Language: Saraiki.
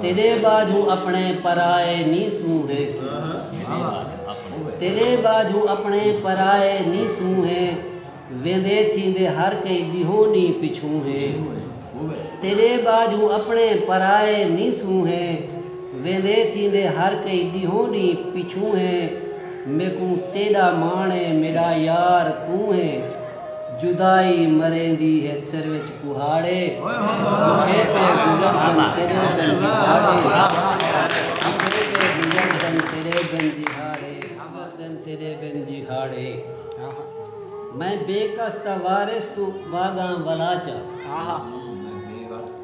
تیݙے ٻاجھوں اپݨے پرائے نی سونہے ویندے تھیندے ہر کئی ݙیہوں نی پچھوں ہے میکوں تیݙا ماݨ ہے میݙا یار توں ہے۔ جدائی مریندی ہے سر وچ کہاڑے بکھے پے گزردن تیرے بن جہاڑے میں بے کس دا وارث توں واگاں ولاچا۔